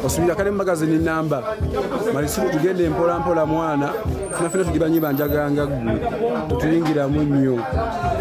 osubira kale mu magazini namba malisiru tugenda empola mpola mwana fena fena tugibanyi banjaganga gwe tetuyingiramu nnyo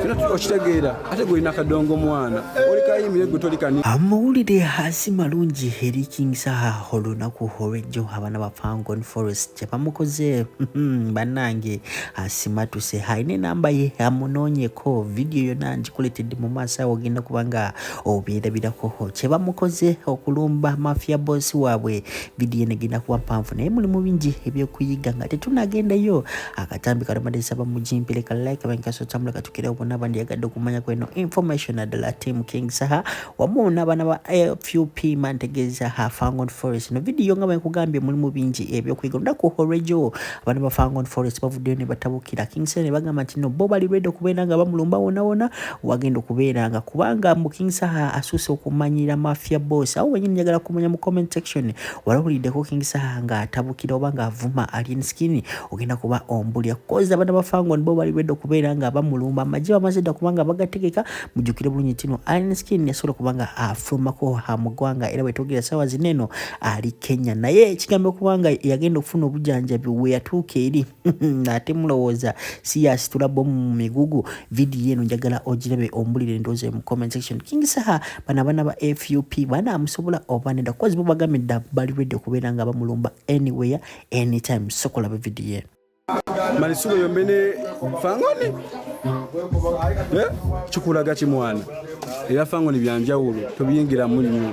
fena okitegeera ate gwolina kadongo mwana olikayimbire gwe tolikani amawulire hasi malungi eri king saha olunaku olwejjo abaana ba fangon forest kyebamukoze hmm, banange asimatuse haine namba ye amunoonyeko vidiyo yona ngikuletedde mu maaso awo ogenda kubanga obyerabirako kyebamukoze okulumba mafia boss waabwe vidiyo eno egenda kuba mpanvu naye mulimu bingi ebyokuyiga nga tetunagendayo akatambi kalomadesa bamujimpire ka like bankasotambula katukira obona bandi yagadde okumanya kweno information adala team king saha wamu n'abaana ba fup mantegeeza ha fangon forest no vidiyo nga bwekugambye mulimu bingi ebyokuyiga olunaku olwejo abaana ba fangon forest bavuddeyo ne batabukira king saha ne bagamba nti no bo bali ready okubeera nga bamulumba wonawona wagenda okubeeranga kubanga mbu king saha asuuse okumanyira mafia boss awo wenyini njagala kumanya mu comment section walawuliddeko king saha nga atabukira oba nga avuma alien skin ogenda kuba ombulya koza abana bafango nibo bali bedda okubeera nga bamulumba amagye bamaze dda kubanga bagategeka mujjukire bulungi tino alien skin yasobola kubanga afulumako ha mu ggwanga era wetogera sawa zineno ali kenya naye ekigambo kubanga yagenda okufuna obujanjabi weyatuuka eri ate mulowooza si yasitula bomu mu migugu vidiyo eno njagala ogirabe ombulire endowooza mu comment section king saha bana abana ba fup bana amusobola oba nedda kuba zibo bagambe dda bali redi okubeera nga bamulumba anywhere anytime sokola be vidiyo malisulo yombe ne fangoni eh, kikulaga kimwana era fangoni byanjawulo tobiyingiramu nnyo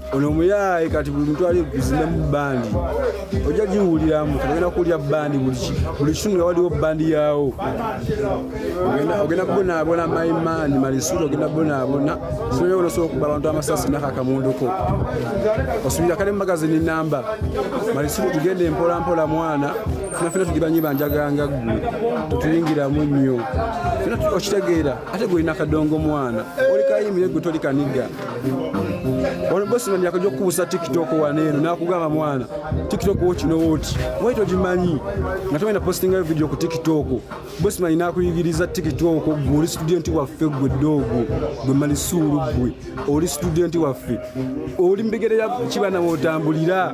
ono omuyaaye kati buli muntu ali kuzinemu bandi ojja giwuliramu ogenda kuwulira bandi buli kitundu nga waliwo bandi yaawo ogenda kubonaabona maimaani malisuuli ogenda kubonaabona sinyo onosobola okuba abantu amasasi nakakamunduko osubira kale mumagazini namba malisuuli tugenda empola mpola mwana nafena tugibanyi banjaganga gwe tetuyingiramu nnyo fena okitegeera ate gwe olina kadongo mwana oli kayimire gwe toli kaniga Ono bosi mami akaja kukubusa TikTok wano eno nakugamba mwana TikTok woki no woki why don't you manyi nga togenda posting a video ku TikTok bosi mami nakuyigiriza TikTok gwe oli student waffe gwe dogo gwe mali suru gwe oli student waffe oli mbigere ya kibana wotambulira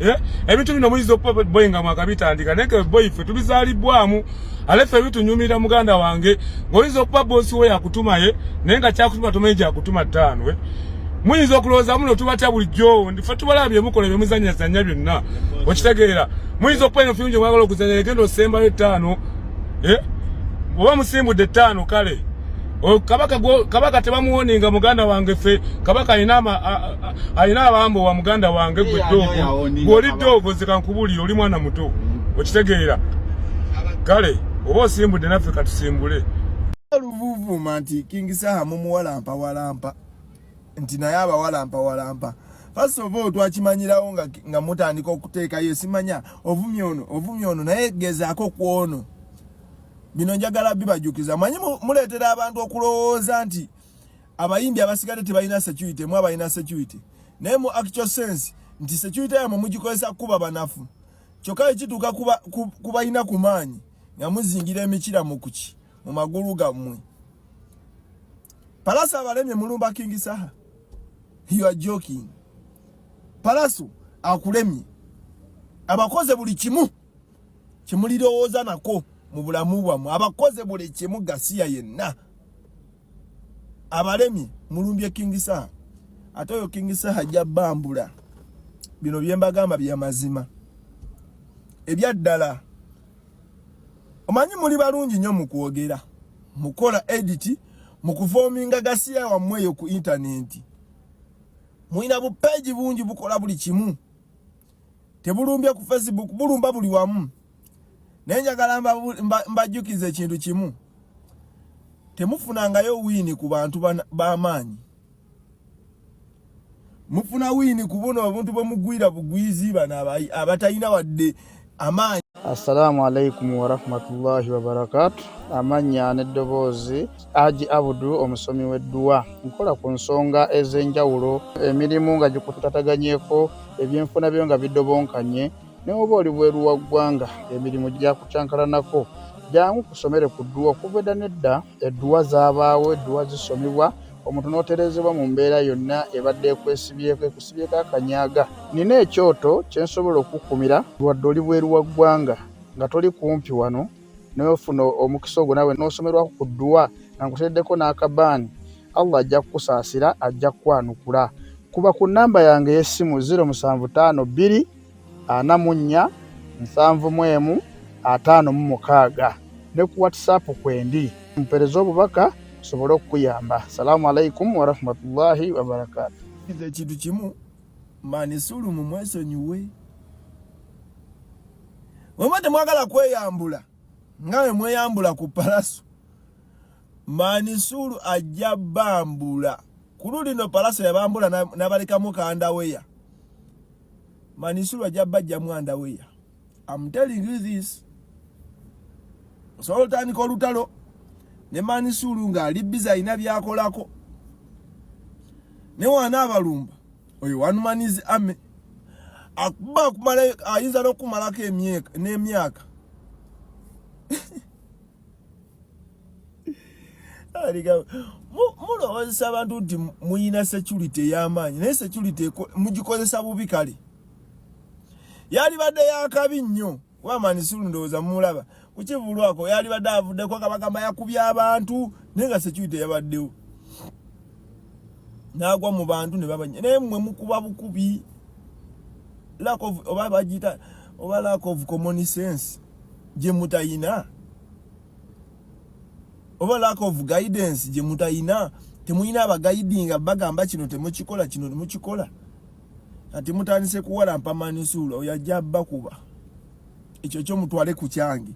Eh? ebintu bino muyinza okuba boyi nga mwakabitandika naye ke boyi ffe tubizalibbwamu ale ffe bitunyumira muganda wange ngaoyinza okuba bosi wo yakutumaye naye nga kyakutuma tomanyi gyakutuma ttaano eh? muyinza okulowooza muno tubatya bulijjo ndife tubalaba byemukola byemuzanyazanya byonna okitegeera muyinza okuba eno fiungi mwagala okuzanya egenda osembayo ettaano eh? oba musimbudde ettaano kale Oh, kabaka gwo kabaka tebamuwoninga muganda wange fe kabaka alina ama alina abambo wa muganda wange gwe dogo gwoli dogo zika nkubuli oli mwana muto mm. okitegeera kale oba osimbudde naffe katusimbule oluvuvuma nti king saha mumuwalampa walampa nti naye abawalampa walampa first of all twakimanyirawo nga, nga mutandika okuteekayo simanya ovumya ono ovumya ono naye gezaako kwono bino njagala bibajukiza manyi muleetera abantu okulowooza nti abayimbi abasigadde tebalina security mu abalina security naye mu actual sense nti security yamwe mugikozesa kukuba banafu kyokka ekituuka kubalina ku maanyi nga muzingira emikira mukuki mu magulu gammwe palasa abalemye mulumba kingi saha you are joking palaso akulemye abakoze buli kimu kyemulirowooza nako mu bulamu bwammwe abakoze buli kimu gasiya yenna abalemye mulumbye kingisaha ate oyo kingisaha ajja bambula bino byembagamba byamazima ebyaddala omanyi muli balungi nnyo mu kwogera mukola editi mu kufoominga gasiya wammwe eyo ku intanenti mulina bupeegi bungi bukola buli kimu tebulumbye ku facebook bulumba buli wamu naye njagala mbajjukiza ekintu kimu temufunangayo wiini ku bantu b'amaanyi mufuna wiini ku buno obuntu bwe mugwira bugwizi bano abatalina wadde amaanyi assalamu alaikum warahmatullahi wabarakatu amannya n'eddoboozi Haji Abudu omusomi w'edduwa nkola ku nsonga ez'enjawulo emirimu nga gikutataganyeko ebyenfuna byo nga bidobonkanye ne woba oli bweru wa ggwanga emirimu gyakucankalanako jangu kusomere ku dduwa okuva edda n'edda edduwa zaabaawo edduwa zisomibwa omuntu n'otereezebwa mu mbeera yonna ebadde ekwesibyeko ekusibyeko akanyaaga nina ekyoto kye nsobola okukukumira wadde oli bweru wa ggwanga nga toli kumpi wano naye ofuna omukisa ogwo nawe n'osomerwako ku dduwa nga nkuteeddeko n'akabaani allah ajja kukusaasira ajja kukwanukula kuba ku nnamba yange ey'essimu 0752 44 71 56 ne ku whatsapp kwendi mpereza obubaka sobole okukuyamba salaamu alaikum warahmatullahi wabarakatu ekintu kimu manisulumu mwesonyiwe Wema temwagala kweyambula nga we mweyambula ku palaso manisulu ajja bambula kulu lino palaso yabambula nabalekamu kandaweya manisulu ajja bajjamu andaweya am telling you this osobola otandika olutalo ne manisulu ng'ali biza alina byakolako ne waana abalumba oyo one man is army akuba akumala ayinza n'okumalako n'emyaka mulowozesa abantu nti muyina security ey'amaanyi naye security mugikozesa bubi kale yalibadde yakabi nnyo wamani sulu ndowoza mulaba kukivulwako yali badde avuddeko nga bagamba yakubye abantu naye nga security yabaddewo nagwa mu bantu ne babanya naye mwe mukuba bukubi lack of oba bagiyita oba lack of common sense gye mutayina oba lack of guidance gye mutayina temuyina abagayidinga bagamba kino temukikola kino temukikola kati mutandise kuwalampa manisuula oyo ajja bakuba ekyo kyo mutwale ku kyange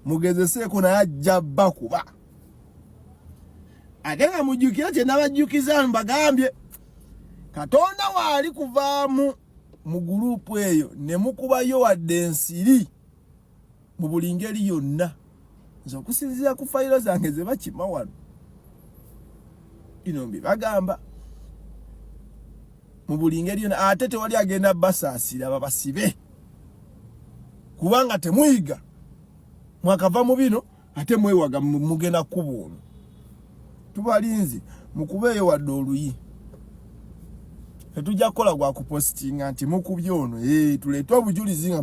mugezeseeko naye ajja bakuba ate nga mujjukira kye nabajjukiza mbagambye katonda waali kuvaamu mu guluupu eyo ne mukubayo wadde ensiri mu buli ngeri yonna nze okusinziira ku fayiro zange ze bakima wano bino mbi bagamba mu buli ngeri yona ate tewali agenda basaasira babasibe kubanga temuyiga mwakava mu bino ate mwewaga mugenda kubuuno tubalinzi mukubeeyo wadde oluyi tetujja kukola gwa kupositinga nti mukubye ono eh, tuleete obujulizi nga